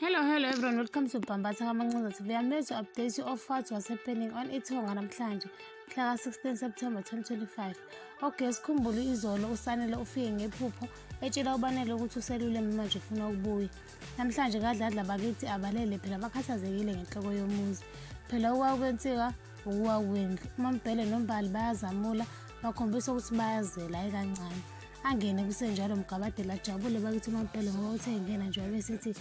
Hello, hello everyone, welcome to Bhambatha Kamancinza TV. I'm here to update you of what was happening on Ithonga namhlanje, mhla 16 September 2025. Okay, sikhumbule izolo uSanele ufike ngephupho etshela uBanele ukuthi uselule manje ufuna ukubuya. Namhlanje kadladla bakithi abalele phela bakhathazekile ngenhloko yomuzi. Phela okwakwenzeka ukuwa kwendlu. UMambhele noMbali bayazamula bakhombisa ukuthi bayazela ayikancane. angene kusenjalo mgabadeli ajabule bakithi umampelo ngoba uthe engena nje wabesithi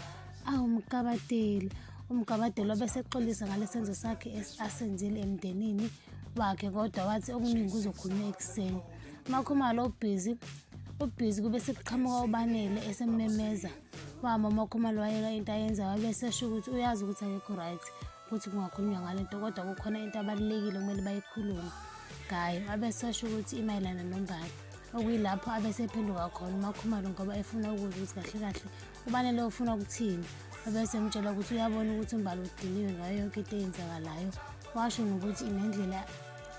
awu mgabadeli umgabadeli wabesexolisa ngale senzo sakhe asenzile emndenini wakhe kodwa wathi okuningi kuzokhulunywa ekuseni umakhumalo ubhizi ubhizi kube sekuqhamuka ubanele esemmemeza wama umakhumalo wayeka into ayenza wabesesho ukuthi uyazi ukuthi akekho right ukuthi kungakhulunywa ngale nto kodwa kukhona into abalulekile okumele bayikhulume ngayo abesesho ukuthi imayelana nombali okuyilapho abesephenduka khona umakhumalo ngoba efuna ukuzwa ukuthi kahle kahle ubanele ufuna ukuthini abese mtshela ukuthi uyabona ukuthi umbali udiniwe ngayo yonke into eyenzakalayo washo ngokuthi nendlela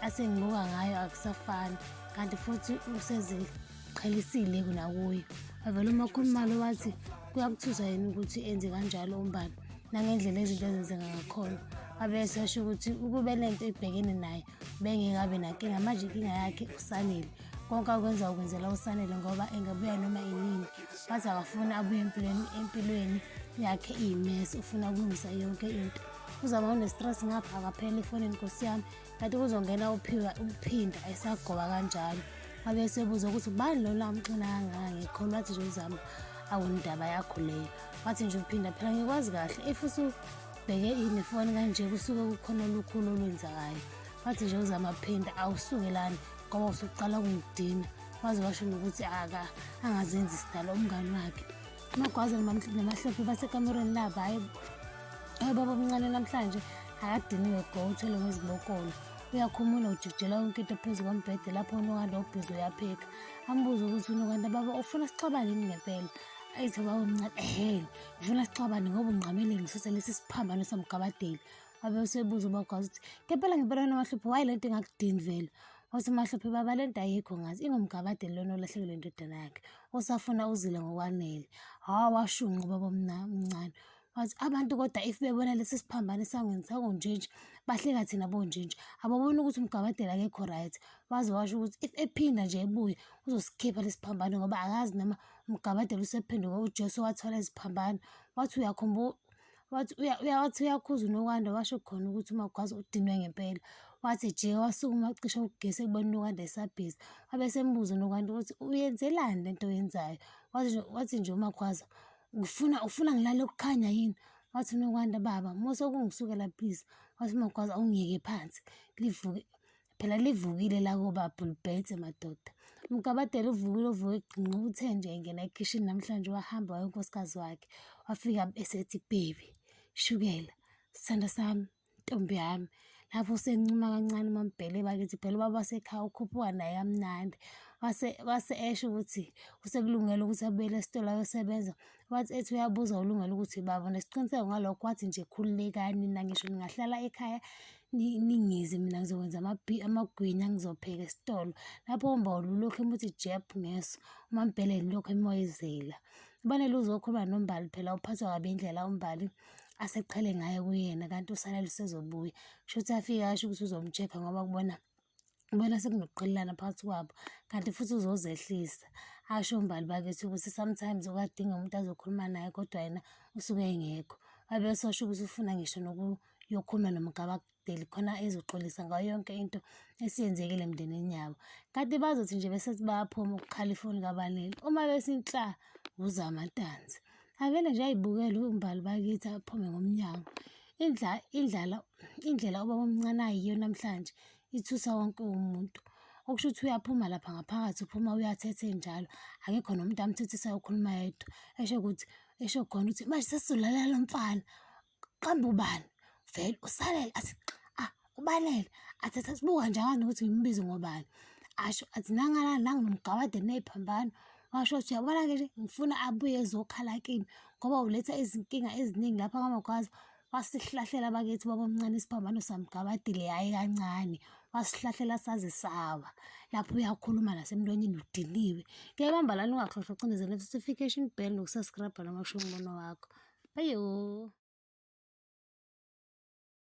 asengibuka ngayo akusafani kanti futhi usezile qhalisile kunakuyo avele uma khulumalo wathi kuyakuthusa yena ukuthi enze kanjalo umbali nangendlela izinto ezenzeka ngakhona abese asho ukuthi ukube le nto ibhekene naye bengekabi nankinga manje inkinga yakhe usanele konke akwenza ukwenzela usanele ngoba engabuya noma inini wathi akafuni abuye empilweni empilweni yakhe iyimesi ufuna ukulungisa yonke into uzama unestress ngapha akaphela ifonini nkosi yami kanti kuzongena uphiwa uphinda esagoba kanjalo abe esebuza ukuthi ubani lona amxina kangaka ngikhona wathi nje uzama awundaba yakho leyo wathi nje uphinda phela ngikwazi kahle if usubheke inefoni kanje kusuke kukhona olukhulu olwenzakayo wathi nje uzama phinda awusukelani ngoba usuqala ukungidina waze washo nokuthi aka angazenzi sidala umngani wakhe amagwaza namahlophe basekamerweni labo hayi hayi baba omncane namhlanje akadiniwe go uthwele ngezibokolo uyakhumula ujikijela yonke into phezu kombhede lapho unokanda ubhizi uyapheka ambuze ukuthi unokanda baba ufuna sixabane yini ngempela ayithe baba omncane ehele ngifuna sixabane ngoba ungqamele ngisuse lesi siphambano somgabadeli abe usebuza ubagwazi ukuthi ngempela ngempela wena mahlupho waye le nto ingakudini vele Wathi uMahluphe, Baba le nto ayikho ngathi, ingumgabade lona olahlekelwe indodana yakhe, osafuna uzile ngokwanele. Hawu washunqa ubaba omncane. Wathi abantu kodwa if bebona lesi siphambano esangweni sakonjinji, bahleka thina bonjinji. Ababoni ukuthi umgabadela akekho right. Waze washo ukuthi if ephinda nje ebuye, uzosikhipha lesi phambano ngoba akazi noma umgabadela usephenduke uJesu wathola iziphambano. Wathi uyakhumbula Wathi uya- uya- wathi uyakhuza uNokwanda washo khona ukuthi uMagwaza udinwe ngempela. Wathi ejika wasukuma wacisha ugesi ekubona uNokwanda esabhizi. Wabe esembuza uNokwanda ukuthi uyenzelani le nto oyenzayo. Wathi nje- wathi nje uMagwaza ngifuna ufuna ngilale kukhanya yini? Wathi uNokwanda baba mose ukungisukela please. Wathi uMagwaza awungiyeke phansi livuke Phela livukile lakobaba ulibhede madoda. Umgabadela uvukile uvuke egqinqa uthe nje engena ekhishini namhlanje wahamba waye unkosikazi wakhe. Wafika esethi baby shukela sithanda sami ntombi yami lapho usencuma kancane umambhele bakithi phela ubaba wasekhaya ukhuphuka naye kamnandi wase wase esho ukuthi usekulungele ukuthi abuyele esitolo ayosebenza wathi ethi uyabuza ulungele ukuthi baba nesiqiniseko ngalokho wathi nje khululekani nina ngisho ningahlala ekhaya ningize mina ngizokwenza amagwinya ngizopheka esitolo lapho umbawula ulokhu emuthi jeb ngeso umambheleni lokhu emoyizela ubanele uzokhuluma nombali phela uphathwa kabi indlela umbali aseqhele ngayo kuyena kanti usala lusezobuya kusho ukuthi afike asho ukuthi uzomcheck ngoba kubona ubona sekunokuqhelelana phakathi kwabo kanti futhi uzozehlisa asho umbali bakithi ukuthi sometimes ukadinga umuntu azokhuluma naye kodwa yena usuke engekho wabe esosho ukuthi ufuna ngisho nokuyokhuluma nomgabadeli khona ezoxolisa ngayo yonke into esiyenzekile emndenini yabo kanti bazothi nje bese bayaphuma ukukhala ifoni kabaleli uma besinhla wuzamantanzi avele nje ayibukele umbali bakithi aphume ngomnyango Indla, indlala, indlela ubaba omncane ayiyo namhlanje ithusa wonke umuntu. Okusho ukuthi uyaphuma lapha ngaphakathi, uphuma uyathethe njalo. Akekho nomuntu amthethisayo ukhuluma yedwa. Esho ukuthi, esho khona ukuthi manje sesizolalela lo mfana. Qamba ubani? Vele usalele athi ah. ubalele athi sasibuka njani ukuthi ngimbize ngobani asho athi nangala nangu nomgabade nephambano washo ukuthi uyabona ke ngifuna abuye ezokhala kimi ngoba uletha izinkinga eziningi lapha kamagwaza wasihlahlela bakithi babomncane isiphambano samgabadile hhayi kancane wasihlahlela saze sawa lapho uyakhuluma nasemntwanyeni udiniwe kuyabamba lani ungakhohlwa ucindezela notification bell nokusaskrabha noma kusho umbono wakho bayo